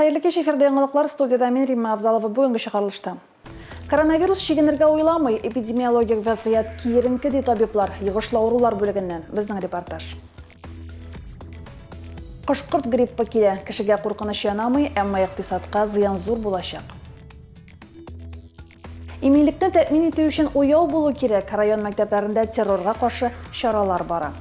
Хәерле кич, эфирда яңалыклар, студиядә мин, Римма Авзалова, бүгенге чыгарылышта. Коронавирус чигенергә уйламый, эпидемиологик вәзгыять киеренке, ди табиблар, йогышлы авырулар бүлегеннән, безнең репортаж. Кош-корт гриппы килә, кешегә куркыныч янамый, әмма икътисадка зыян зур булачак. Иминлекне тәэмин итү өчен уяу булу кирәк, район мәктәпләрендә террорга каршы чаралар бара.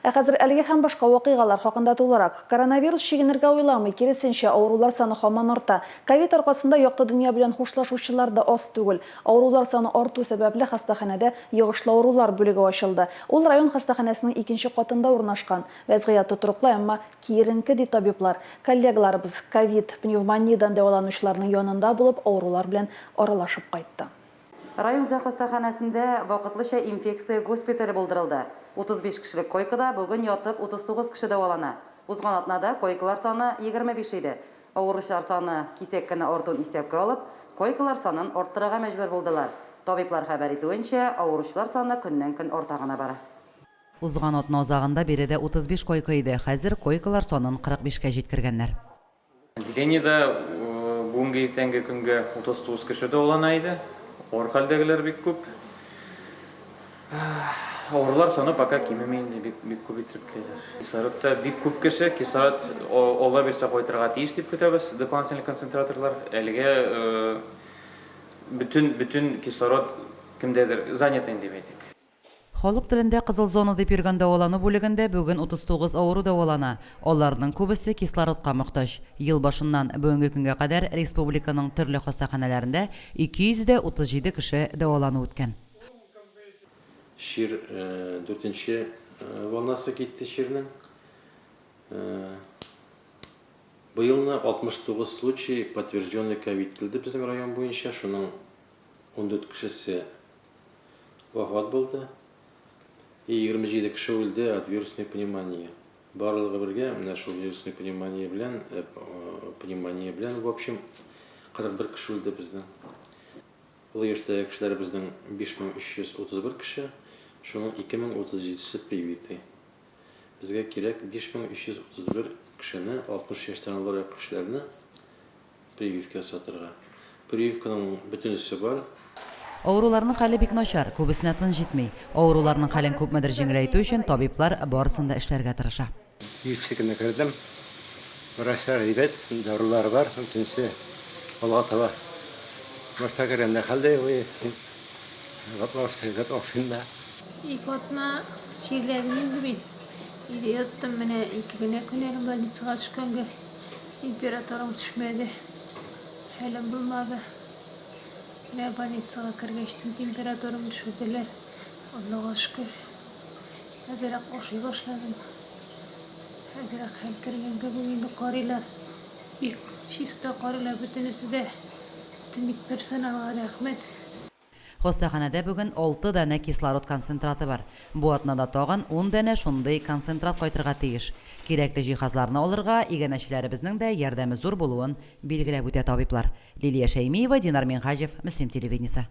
Ә хәзер әлеге һәм башка вакыйгалар хакында тулырак. Коронавирус чигенергә уйламый, киресенчә, авырулар саны һаман арта. Ковид аркасында якты дөнья белән хушлашучылар да аз түгел. Авырулар саны арту сәбәпле, хастаханәдә йогышлы авырулар бүлеге ачылды. Ул район хастаханәсенең икенче катында урнашкан. Вәзгыять тотрыклы, әмма киеренке, ди табиблар. Коллегаларыбыз, ковид, пневмониядән дәваланучыларның янында булып, авырулар белән аралашып кайтты. Райүзәк хастаханәсендә вакытлыча инфекция госпитале булдырылды. 35 кешелек койкада бүген ятып 39 кеше дәвалана. Узган атнада койкалар саны 25 иде. Авыручылар саны кисәк кенә артуын исәпкә алып, койкалар санын арттырырга мәҗбүр булдылар. Табиблар хәбәр итүенчә, авыручылар саны көннән-көн арта гына бара. Узган атна азагында биредә 35 койка иде, хәзер койкалар санын 45 кә җиткергәннәр. Отделениедә бүгенге иртәнге көнгә 39 кеше дәвалана иде. Авыр хәлдәгеләр бик күп. Авырлар саны пока кимеми инде, бик, бик күп итеп киләләр. Кислородта бик күп кеше, кислород Алла бирсә кайтырга тиеш дип көтәбез, дополнительный концентраторлар. Әлегә бөтен, бөтен кислород кемдәдер, занятый дип әйтик. Халык телендә кызыл зона дип йөргән дәвалану бүлегендә бүген 39 авыру дәвалана. Аларның күбесе кислородка мохтаҗ. Ел башыннан бүгенге көнгә кадәр республиканың төрле хастаханәләрендә 200 дә 37 кеше дәвалану үткән. Чир дүртенче волнасы китте чирнең. Быелны 69 случай подтвержденный ковид килде безнең район буенча, шуның. Ундүрт кешесе вафат булды и егерме җиде кеше үлде от вирусной пневмонии. Барлыгы бергә менә шул вирусной пневмония белән, пневмония белән, в общем, 41 кеше үлде безнең. Олы яшьтәге кешеләребезнең 5331 кеше, шуның 2037-се привитый. Безгә кирәк 5331 кешене, 60 яшьтән олырак кешеләрне Прививка ясатырга. Прививканың бөтенесе бар. Авыруларның хәле бик начар, күбесенә тын җитми. Авыруларның хәлен күпмедер җиңеләйтү өчен табиблар барысын да эшләргә тырыша. Дефицитына кердем. Врачлар әйбәт, дарулар бар, бөтенесе алга таба. Башта кергәндә хәлдә юк иде. Башта әйбәт ашыйм да. Ике атна чирләдем инде мин. Өйдә яттым, менә ике генә көн әле больницага төшкәнгә. Температурам төшмәде. Хәлем булмады. Менә больницага кергәч, температурам төшерделәр. Аллага шөкер. Әзерәк ашый башладым. Әзерәк хәл кергән кебек инде карыйлар. Бик чиста карыйлар бөтенесе дә. Медперсоналга рәхмәт. Хастаханәдә бүген алты данә кислород концентраты бар. Бу атнада тагын ун данә шундый концентрат кайтырга тиеш. Кирәкле җиһазларны алырга иганәчеләребезнең дә ярдәме зур булуын билгеләп үтә табиблар. Лилия Шәймиева, Динар Минһаҗев, Мөслим телевидениесе.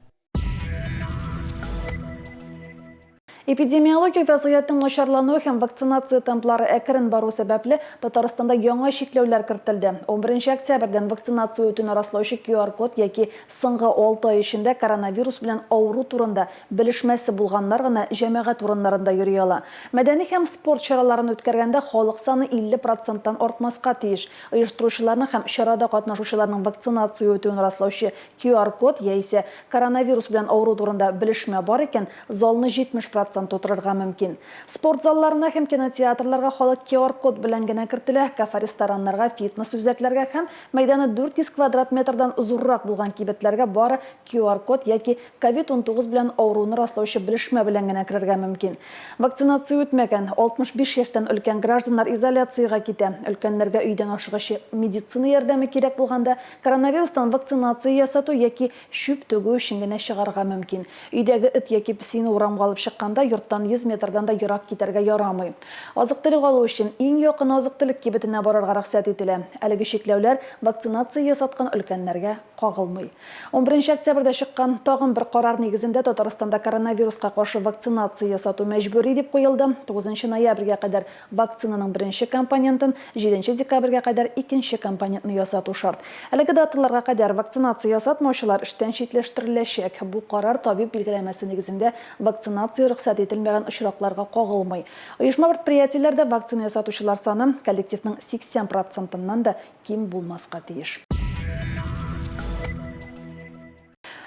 Эпидемиологик вәзгыятьнең начарлануы һәм вакцинация темплары әкрен бару сәбәпле, Татарстанда яңа чикләүләр кертелде. Унберенче октябрьдән вакцинация үтүне раслаучы QR-код яки соңгы алты ай эчендә коронавирус белән авыру турында белешмәсе булганнар гына җәмәгать урыннарында йөри ала. Мәдәни һәм спорт чараларын үткәргәндә халык саны 50 проценттан артмаска тиеш. Оештыручыларның һәм чарада катнашучыларның вакцинация үтүен раслаучы QR-код яисә коронавирус белән авыру турында белешмә бар икән, залны 70 процент тутырырга мөмкин. Спорт залларына һәм кинотеатрларга халык QR-код белән генә кертелә, кафе-рестораннарга, фитнес-үзәкләргә һәм мәйданы 400 квадрат метрдан зуррак булган кибетләргә бары QR-код яки COVID-19 белән авыруны раслаучы белешмә белән генә керергә мөмкин. Вакцинация үтмәгән, 65 яшьтән өлкән гражданнар изоляциягә китә. Өлкәннәргә өйдән ашыгыч медицина ярдәме кирәк булганда, Коронавирустан вакцинация ясату яки чүп түгү өчен генә чыгарга мөмкин. Өйдәге эт яки песине урамга алып чыкканда йорттан 100 метрдан да ерак китәргә ярамый. Азык-төлек алу өчен иң якын азык-төлек кибетенә барырга рөхсәт ителә. Әлеге чикләүләр вакцинация ясаткан өлкәннәргә кагылмый. Унберенче октябрьдә чыккан тагын бер карар нигезендә Татарстанда коронавируска каршы вакцинация ясату мәҗбүри дип куелды, тугызынчы ноябрьгә кадәр Вакцинаның беренче компонентын җиденче декабрьгә кадәр икенче компонентны ясату шарт. Әлеге даталарга кадәр вакцинация ясатмаучылар эштән читләштереләчәк. Бу карар табиб билгеләмәсе нигезендә вакцинация рөхсәт ителмәгән очракларга кагылмый. Оешма-предприятиеләрдә вакцина ясатучылар саны коллективның 80 процентыннан да ким булмаска тиеш.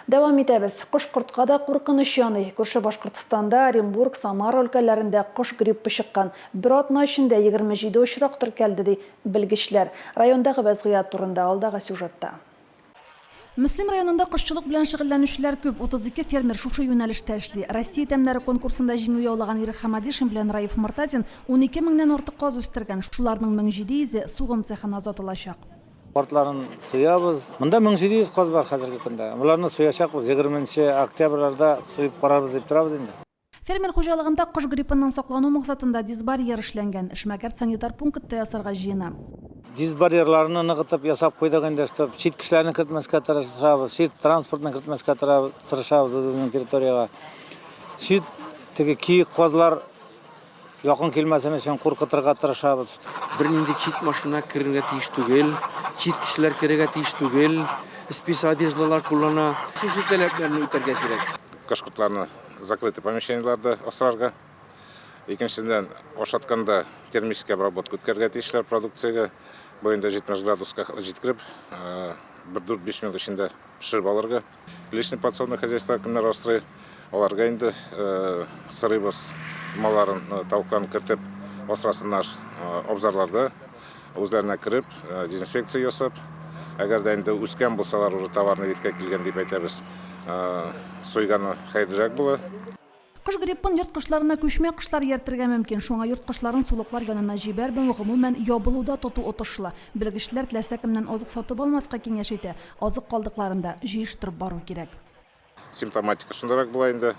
Дәвам итәбез. Кош-кортка да куркыныч яный. Күрше Башкортстанда, Оренбург, Самара өлкәләрендә кош гриппы чыккан. Бер атна эчендә 27 очрак теркәлде, ди белгечләр. Райондагы вәзгыять турында алдагы сюжетта. Мөслим районында кошчылык белән шөгыльләнүчеләр күп. 32 фермер шушы юнәлештә эшли. Россия тәмнәре конкурсында җиңү яулаган Ирек Хамадишин белән Раиф Мортазин унике меңнән артык каз үстергән. Шуларның мең җиде йөзе сугым цехына озатылачак. Портларын суябыз. Монда 1700 каз бар хәзерге көндә. Боларны суячакбыз 20 октябрьләрдә суеп карарбыз дип торабыз инде. Фермер хуҗалыгында кош гриппыннан саклану максатында дисбарьер эшләнгән. Эшмәкәр санитар пункт та ясарга җыена. Дисбарьерларны ныгытып ясап куйдык инде, чтобы чит кешеләрне кертмәскә тырышабыз, чит транспортны кертмәскә тырышабыз үзебезнең территориягә. Чит теге киек казлар Якын килмәсен өчен куркытырга тырышабыз. Бернинди чит машина керергә тиеш түгел, чит кешеләр керергә тиеш түгел, спис одеждалар куллана. Шушы таләпләрне үтәргә кирәк. Кош-кортларны закрытый помещениеләрдә асрарга. Икенчедән, ашатканда термический обработка үткәрергә тиешләр продукциягә. Бу инде 70 градуска җиткереп, бер дүрт-биш минут эчендә пешереп алырга. Личный подсобный хозяйство кемнәр асрый, аларга инде сырыйбыз малларын, тавыкларын кертеп асрасыннар. Абзарларда үзләренә кереп, дезинфекция ясап, әгәр дә инде үскән булсалар, уже товарны веткә килгән дип әйтәбез, сойганы хәерлерәк була. Кош гриппын йорт кошларына күчмә кошлар ияртергә мөмкин, шуңа йорт кошларын сулыклар янына җибәрмәү, гомумән, ябылуда тоту отышлы. Белгечләр теләсә кемнән азык сатып алмаска киңәш итә, азык калдыкларын да җыештырып бару кирәк. Симптоматика шундыйрак була инде,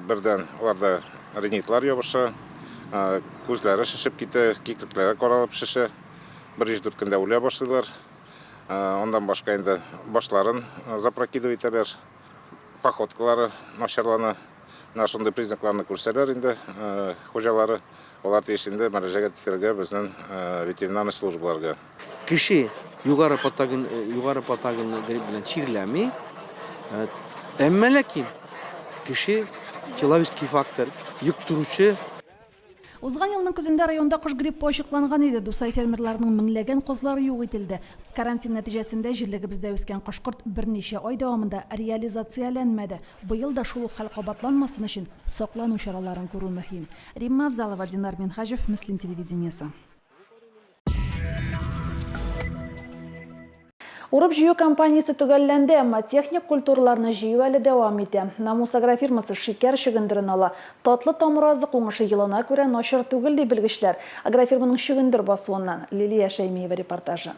бердән аларда ринитлар ябыша, күзләре шешеп китә, кикрекләре каралып шешә, бер биш-дүрт көндә үлә башлыйлар. Аннан башка инде башларын запрокидывать итәләр. Походкалары начарлана. Менә шундый признакларны күрсәләр инде хуҗалары, алар тиеш инде мөрәҗәгать итәргә безнең ветеринарный службаларга. Кеше югары патоген югары патогенлы грипп белән чирләми. Әмма ләкин кеше человеческий фактор, йөк торучы Узган елның көзендә районда кош гриппы ачыкланган иде. Дусай фермерларының меңләгән козлары юк ителде. Карантин нәтиҗәсендә җирлегебездә үскән кош-корт берничә ай дәвамында реализацияләнмәде. Быел да шул ук хәл кабатланмасын өчен саклану чараларын күрү мөһим. Римма Авзалова, Динар Минһаҗев, Мөслим телевидениесе. Урып-җыю кампаниясе төгәлләнде, әмма техник культураларны җыю әле дәвам итә. Намус агрофирмасы шикәр чөгендерен ала. Татлы тамыр азык уңышы елына күрә начар түгел, ди белгечләр. Агрофирманың чөгендер басуыннан Лилия Шәймиева репортажы.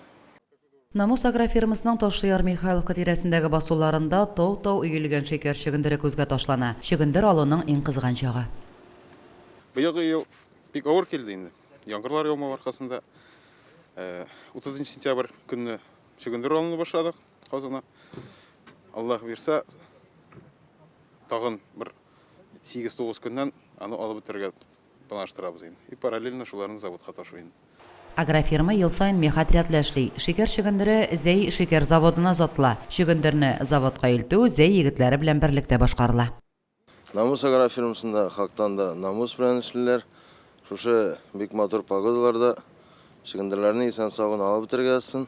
Намус агрофирмасының Ташлыяр Михайловка тирәсендәге басуларында тау-тау өелгән шикәр чөгендере күзгә ташлана. Чөгендер алуның иң кызган чагы. Быелгы ел бик авыр килде инде. Яңгырлар яумау аркасында 30 э, сентябрь көнне чөгендер алынып башладык казуна. Аллах бирсә, тагын бер 8-9 көннән аны алып бетерергә планлаштырабыз инде. И параллельно шуларны заводка ташу инде. Агрофирма ел саен меха отрядлы эшли. Шикәр чөгендере Зәй шикәр заводына озатыла. Чөгендерне заводка илтү Зәй егетләре белән берлектә башкарыла. Намус агрофирмасында хактан да намус белән эшлиләр. Шушы бик матур погодаларда чөгендерләрне исән-саубын алып бетерергә язсын.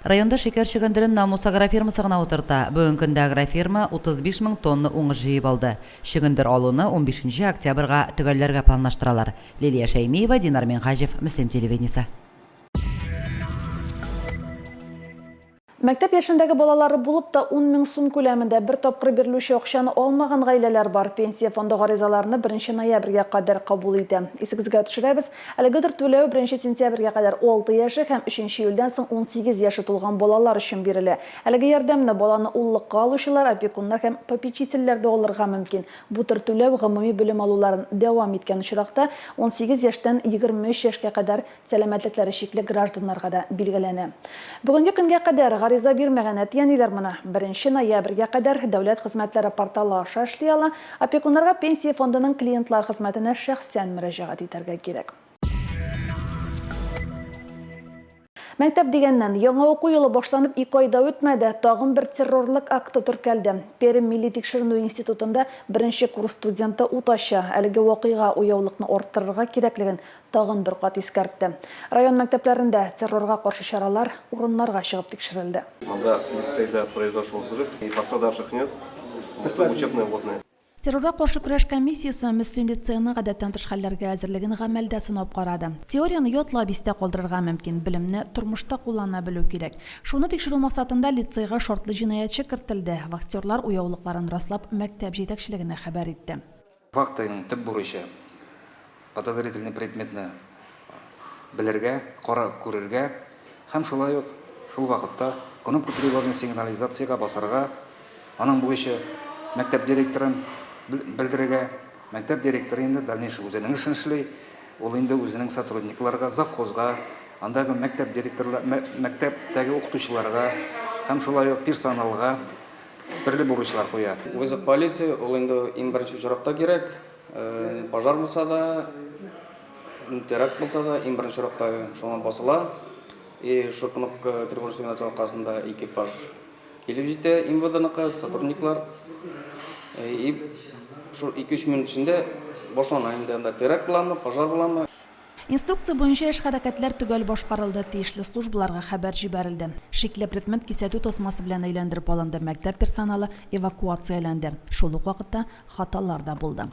Районда шикәр чөгендерен Намус агрофирмасы гына утырта. Бүген көндә агрофирма 35 мең тонна уңыш җыеп алды. Чөгендер алуны унбишенче октябрьга төгәлләргә планлаштыралар. Лилия Шәймиева, Динар Минһаҗев, Мөслим телевидениесе. Мәктәп яшендәге балалары булып та ун мең сум күләмендә бер тапкыр бирелүче акчаны алмаган гаиләләр бар. Пенсия фонды гаризаларны беренче ноябрьгә кадәр кабул итә. Исегезгә төшерәбез, әлегедер түләү беренче сентябрьгә кадәр алты яше һәм өченче июльдән соң унсигез яше тулган балалар өчен бирелә. Әлеге ярдәмне баланы уллыкка алучылар, опекуннар һәм попечительләр дә алырга мөмкин. Бу төр түләү гомуми белем алуларын дәвам иткән очракта, унсигез яшьтән егерме өч яшькә кадәр, сәламәтлекләре чикле гражданнарга да билгеләнә. Бүгенге көнгә кадәр гариза бирмәгән әти-әниләр моны Беренче ноябрьгә кадәр Дәүләт хезмәтләре порталы аша эшли ала, опекуннарга Пенсия фондының клиентлар хезмәтенә шәхсән мөрәҗәгать итәргә кирәк. Мәктәп дигәннән, яңа уку елы башланып ике ай да үтмәде, тагын бер террорлык акты теркәлде. Пермь милли тикшеренү институтында беренче курс студенты ут ача. Әлеге вакыйга уяулыкны арттырырга кирәклеген Тагын бер кат искәртте. Район мәктәпләрендә террорга каршы чаралар урыннарга чыгып тикшерелде. Анда лицейда произошел взрыв и пострадавших нет, булса учебная водная. Террорга каршы көрәш комиссиясе Мөслим лицееның гадәттән тыш хәлләргә әзерлеген гамәлдә сынап карады. Теорияне ятлап истә калдырырга мөмкин, белемне тормышта куллана белү кирәк. Шуны тикшерү максатында лицейга шартлы җинаятьче кертелде, вахтерлар уяулыкларын раслап мәктәп җитәкчелегенә хәбәр итте. Фактының төп бурычы, подозрительный предметны белергә, карап күрергә һәм шулай ук шул вакытта кнопка тревожный сигнализациягә басарга, аның бурычы, мәктәп директорын белдерергә, мәктәп директоры инде дальнейший үзенең эшен эшли, ул инде үзенең сотрудникларга, завхозга, андагы мәктәп директорлар, мәктәптәге укытучыларга һәм шулай ук персоналга, Төрле бурычлар куя. Вызов полиции, ул инде иң беренче очракта кирәк. Пожар булса да, теракт булса да, иң беренче очракта шуңа басыла. И шул кнопка тревожный сигнал чала аркасында экипаж килеп җитә МВДныкы, сотрудниклар. И шул ике-өч минут эчендә башлана инде анда теракт буламы, пожар буламы. Инструкция буенча эш-хәрәкәтләр төгәл башкарылды, тиешле службаларга хәбәр җибәрелде. Шикле предмет кисәтү тасмасы белән әйләндереп алынды, мәктәп персоналы эвакуацияләнде. Шул ук вакытта хаталар да булды.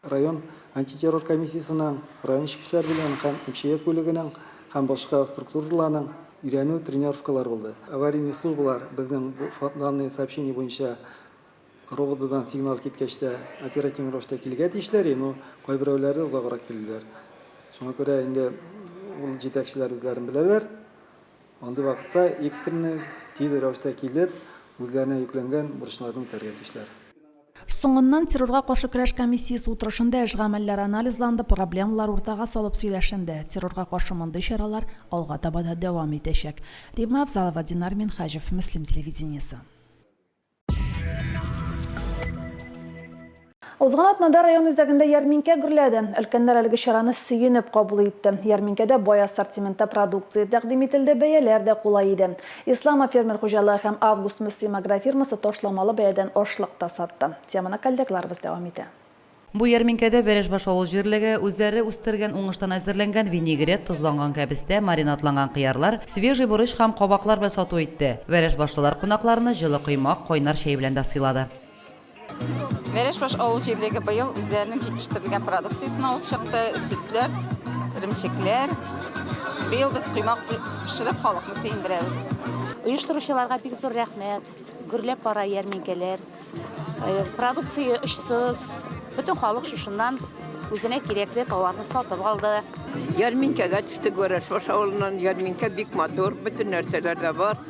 Район антитеррор комиссиясенең, район эчке эшләр бүлегенең һәм МЧС бүлегенең һәм башка структураларның өйрәнү тренировкалары булды. Аварийный службалар безнең бу данный сообщение буенча РОВДдан сигнал киткәч тә, оперативный рәвештә килергә тиешләр иде, но кайберәүләре озаграк килделәр. Шуңа күрә инде ул җитәкчеләр үзләрен беләләр, андый вакытта экстренный, тиз рәвештә килеп, үзләренә йөкләнгән бурычларны үтәргә тиешләр. Соңыннан террорга каршы көрәш комиссиясе утырышында эш гамәлләре анализланды, проблемалар уртага салып сөйләшенде. Террорга каршы мондый чаралар алга таба да дәвам итәчәк. Римма Авзалова, Динар Минһаҗев, Мөслим телевидениесе. Узган атнада район үзәгендә ярминкә гөрләде. Өлкәннәр әлеге чараны сөенеп кабул итте. Ярминкәдә бай ассортиментта продукция тәкъдим ителде, бәяләр дә кулай иде. Ислама фермер хуҗалыгы һәм Август Мөслим агрофирмасы ташламалы бәядән ашлык та сатты. Теманы коллегларыбыз дәвам итә. Бу ярминкәдә Вәрәшбаш авыл җирлеге үзләре үстергән уңыштан әзерләнгән винегрет, тозланган кәбестә, маринадланган кыярлар, свежий борыч һәм кабаклар белән сату итте. Вәрәшбашлылар кунакларны җылы коймак, кайнар чәй белән дә сыйлады. Вәрәшбаш авыл җирлеге быел үзләренең җитештерелгән продукциясен алып чыкты, сөтләр, эремчекләр. Быел без коймак пешереп, халыкны сөендерәбез. Оештыручыларга бик зур рәхмәт. Гөрләп бара ярминкәләр, продукция очсыз, бөтен халык шушыннан үзенә кирәкле товарны сатып алды. Ярминкәгә төштек Варашбаш авылыннан, ярминкә бик матур, бөтен нәрсәләр дә бар.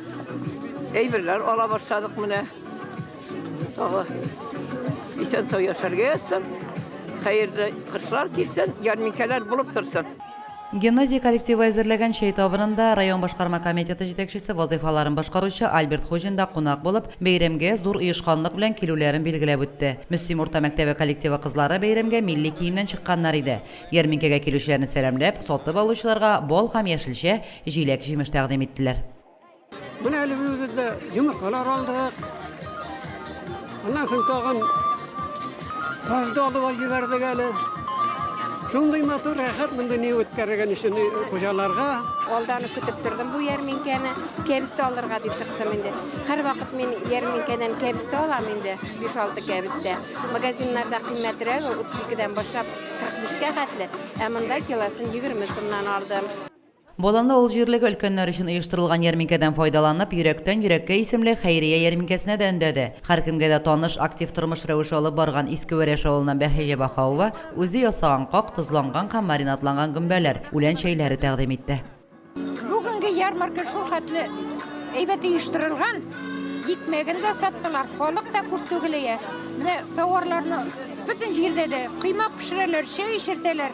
Әйберләр ала башладык менә. Тагы исән-сау яшәргә язсын, хәерле кышлар килсен, ярминкәләр булып торсын. Гимназия коллективы әзерләгән чәй табынында район башкарма комитеты җитәкчесе вазыйфаларын башкаручы Альберт Хуҗин да кунак булып, бәйрәмгә зур оешканлык белән килүләрен билгеләп үтте. Мөслим урта мәктәбе коллективы кызлары бәйрәмгә милли киемнән чыкканнар иде. Ярминкәгә килүчеләрне сәламләп, сатып алучыларга бал һәм яшелчә, җиләк-җимеш тәкъдим иттеләр. Менә әле без дә йомыркалар алдык. Аннан соң тагын Кожды алуға җибәрдек әле. Шундый матур рәхәт монда не үткәргән өчен хуҗаларга. Алданы көтеп тордым бу ярминкәне. Кәбестә алырга дип чыктым инде. Һәр вакыт мин ярминкәдән кәбестә алам инде, 5-6 кәбестә. Магазиннарда кыйммәтрәге 32-дән башлап 45-кә хәтле, ә монда килосын 20 сумнан алдым. Болынлы авыл җирлеге өлкәннәр өчен оештырылган ярминкәдән файдаланып, Йөрәктән йөрәккә исемле хәйрия ярминкәсенә дә өндәде. Һәркемгә дә таныш, актив тормыш рәвеше алып барган Иске Вәрәш авылыннан Бәһиҗә Баһаова үзе ясаган как, тозланган һәм маринадланган гөмбәләр, үлән чәйләре тәкъдим итте. Бүгенге ярмарка шул хәтле әйбәт оештырылган, икмәген дә саттылар, халык та күп түгел ия. Менә тауарларны бөтен җирдә дә, коймак пешерәләр, чәй эчертәләр.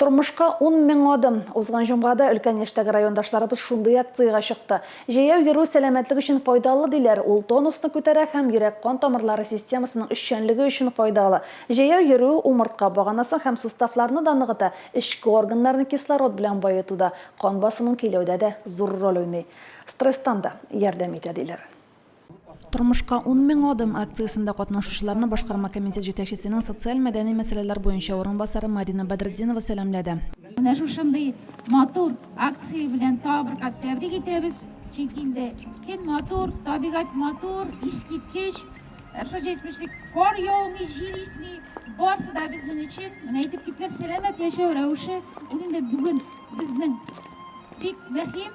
Тормышка ун мең адым. Узган җомгада өлкән яшьтәге райондашларыбыз шундый акциягә чыкты. Җәяү йөрү сәламәтлек өчен файдалы, диләр. Ул тонусны күтәрә һәм йөрәк-кан тамырлары системасының эшчәнлеге өчен файдалы. Җәяү йөрү умыртка баганасын һәм суставларны да ныгыта, эчке органнарны кислород белән баетуда, кан басымын көйләүдә дә зур роль уйный. Стресстан да ярдәм итә, диләр. Тормышка ун мең адым акциясендә катнашучыларны башкарма комитет җитәкчесенең социаль-мәдәни мәсьәләләр буенча урынбасары Марина Бәдретдинова сәламләде. Менә шушындый матур акция белән тагы бер кат тәбрик итәбез, чөнки инде көн матур, табигать матур, искиткеч, Ржечмешлек, кар яумый, җил исми, барысы да безнең өчен, менә әйтеп киттеләр, сәламәт яшәү рәвеше, ул инде бүген безнең бик мөһим.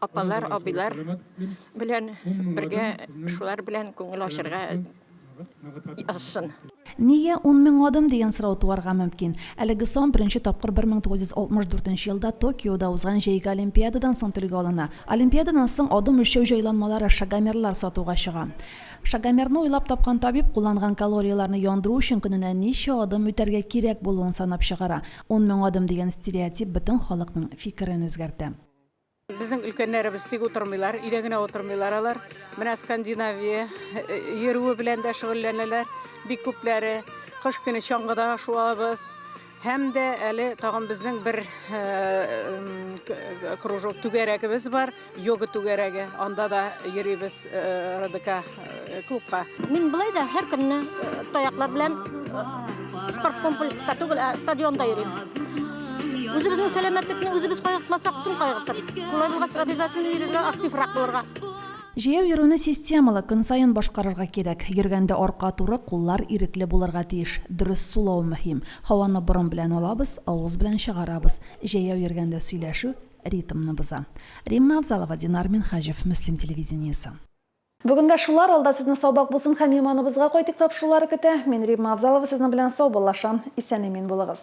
Апалар, абыйлар белән бергә шулар белән күңел ачырга язсын. Нигә ун мең адым дигән сорау туарга мөмкин. Әлеге сан беренче тапкыр 1964 нче елда Токиода узган җәйге олимпиададан соң телгә алына. Олимпиададан соң адым үлчәү җайланмалары, шагомерлар сатуга чыга. Шагомерны уйлап тапкан табиб кулланган калорияләрне яндыру өчен көненә ничә адым үтәргә кирәк булуын санап чыгара. Ун мең адым дигән стереотип бөтен халыкның фикерен үзгәртә. Безнең өлкәннәребез тик утырмыйлар, өйдә генә утырмыйлар алар. Менә Скандинавия йөрүе белән дә шөгыльләнәләр. Бик күпләре кыш көне чаңгыда шуабыз. Һәм дә әле тагын безнең бер кружок түгәрәгебез бар, йога түгәрәге. Анда да йөрибез РДК клубка. Мин былай да һәр көнне таяклар белән спорт комплекска түгел, ә стадионда йөрим. Үзебезнең сәламәтлекне үзебез кайгыртмасак, кем кайгыртыр? Шулай булгач, обязательно йөрергә, активрак булырга. Җәяү йөрүне системалы, көн саен башкарырга кирәк. Йөргәндә арка туры, куллар ирекле булырга тиеш. Дөрес сулау мөһим. Һаваны борын белән алабыз, авыз белән чыгарабыз. Җәяү йөргәндә сөйләшү ритмны боза. Римма Авзалова, Динар Минһаҗев, Мөслим телевидениесе. Бүгенгә шулар, алда сезне саубак булсын һәм иманыбызга кайтыйк тапшырулары көтә. Мин Римма Авзалова сезнең белән саубуллашам. Исән-имин булыгыз.